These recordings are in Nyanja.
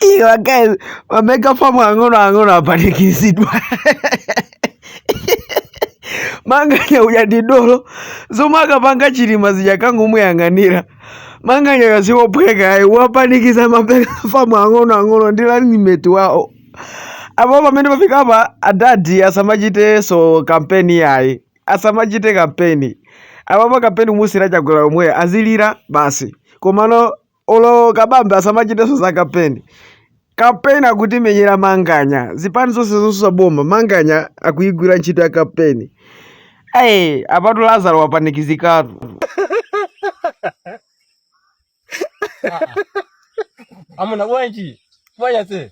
Iyo guys, wameka famu ang'ono ang'ono apanikizidwa. manganya uja ndi dolo zomaka panga chilima zija kangomuyang'anira manganya uja zikophweka ayi wapanikiza mapeka famu ang'ono ang'ono ndi lalimeti wawo apo pamene pafika apa adadi asamachitenso kampeni yayi asamachite kampeni apo pa kampeni amusira chakwera omwe azilira basi komano olo kabambe asamachitenso za kampeni kampeni akutimenyera manganya zipani zonse zosusa boma manganya akuyigwira ntchito ya kampeni ayi apatu lazaro wapanikizikatu amuna bwanji manyazi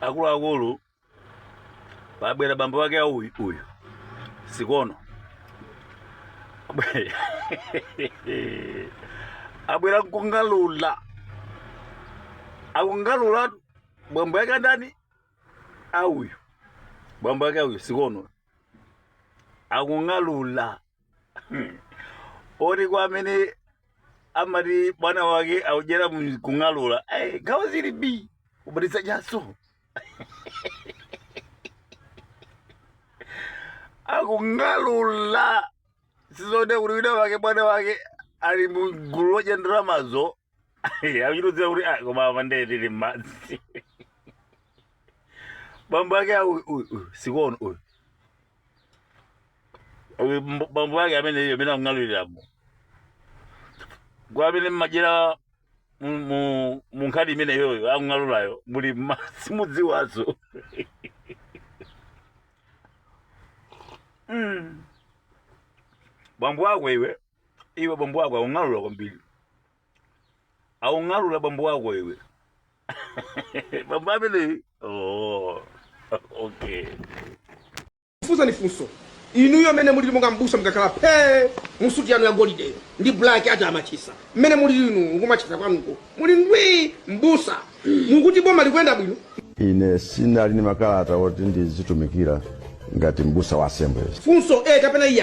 akuluakulu pabwera bambo wake a uyu uyu sikono Abwe- abwera nkungalula akungalula bambo yake ndani a uyu bambo yake a uyu sikono akungalula oti kwa amene amati bwana wake audyera mu- kung'alula eh, nkhawa zili bi ubatiza chaso akung'alula sizoti kuti wina wake bwana wake ali mu gulu lodya ndalamazo akuchitozera kuti "Ah, koma apa ndee tili m'madzi bambo ake awu uyu uyu sikono uyu Uyu mb- bambo yake ameneyo amene akung'aluliramo kaya amene mmadyera mu- mu- mu nkhani imeneyoyo akung'alulayo muli mma- simudziwazo Mm. bambo wako iwe iwe bambo wako akung'alula kwambiri aung'alula bambo wako iwe bambo ameneyi oh. okay fusa ni funso inuyo mene mulili monga mbusa mkakhala phee mu suti yanu ya golide ndi black atamachisa mmene mulili inu nkumachisa kwanuko muli ndwi mbusa mukuti boma likuyenda bwino ine sindili ni makalata oti ndizitumikira ngati mbusa wa assemblies funso e kapena ayi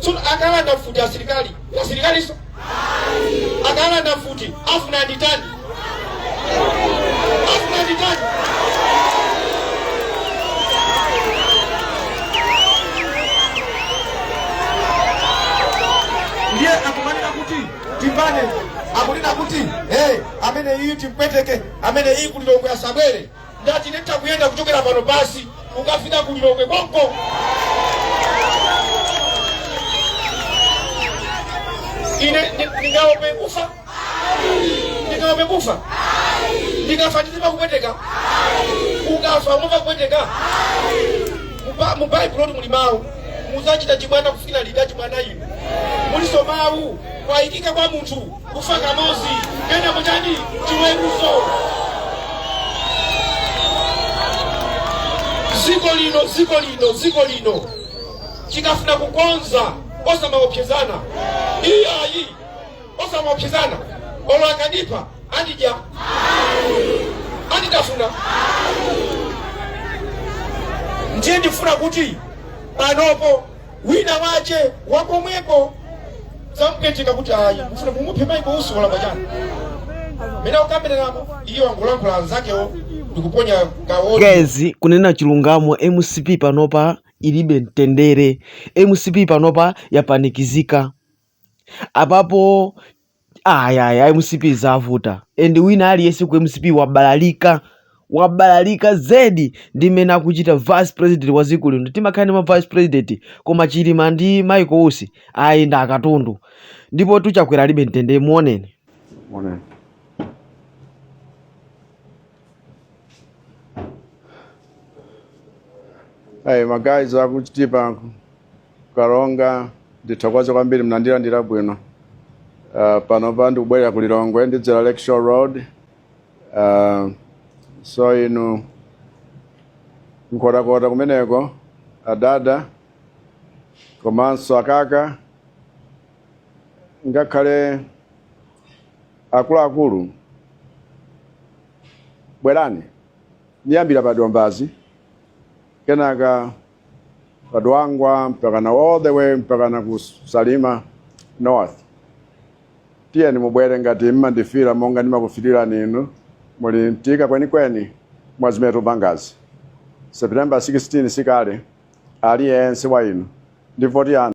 So akalanda mfuti asilikali asilikaliso akalanda mfuti afuna nditani afuna nditani ndiye akumanena kuti timbane akunena kuti hey, amene iyi timpweteke amene iyi kulilongwe asabwere Ndati nditha kuyenda kuchokera pano basi kukafika ku Lilongwe konko. Ine ndi- ndingaope kufa? Ndingaope kufa? Ndikafa ndizimva kupweteka? Ukafa umamva kupweteka? Muba- Mu Baibulo muli mawu muzachita chibwana kufikira liti achibwana inu muliso mawu kwayikika kwa munthu kufa kamozi kenako chani chiweruzo ziko lino ziko lino ziko lino chikafuna kukonza osamaopsezana iyayi osamaopsezana olo akadipa andidya anditafuna ndiye ndifuna kuti panopo wina wache wakomweko zamveka kuti ayi mfuna mumuphe michael usi walakwa chani mene akambiriramo iye wangolankhula anzakewo ndikuponya kawo guys kunena chilungamo mcp panopa ilibe mtendere mcp panopa yapanikizika apapo Ayi ayi ayi mcp zavuta and wina aliyense ku mcp wabalalika wabalalika zedi ndi mmene akuchita vice president wa dziko lino timakhale ndi ma vice president koma chilima ndi michael usi ayi ndi akatundu ndipo tuchakwera alibe mtendere muoneni Onani. Hey, my guys, akuchitatu panopa. karonga ndithokoze kwambiri mnandilandira bwino uh, panopa ndikubwerera ku lilongwe ndidzera lake shore road uh, so inu nkhotakota kumeneko adada komanso akaka ngakhale akuluakulu bwerani ndiyambira pa dombazi kenaka Padwangwa mpaka na all the way mpaka na ku Salima North. Tiyeni mubwere ngati mmandifira monga ndimakuferani inu muli mtika kwenikweni mwa zimene tikupangazi. September 16 sikale aliyense wa inu ndi voti yanu.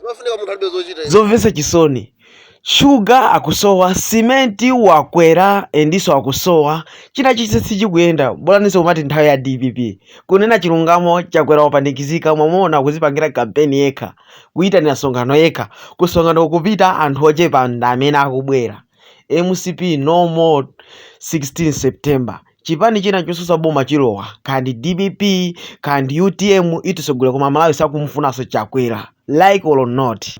zimafunika munthu alibe zochita izi. zomvetsa chisoni shuga akusowa simenti wakwera endiso akusowa china chilichonse sichikuyenda bolaninso kumati nthawi ya dpp kunena chilungamo chakwera wapanikizika mwamuona akuzipangira kampeni yekha kuyitanira msonkhano yekha kumsonkhano kukupita anthu ochepa ndi amene akubwera mcp no more 16 september Chipani china chosusa boma chilowa kaya ndi dpp kaya ndi utm itisogolera koma amalawi sakumufunanso chakwera like or not.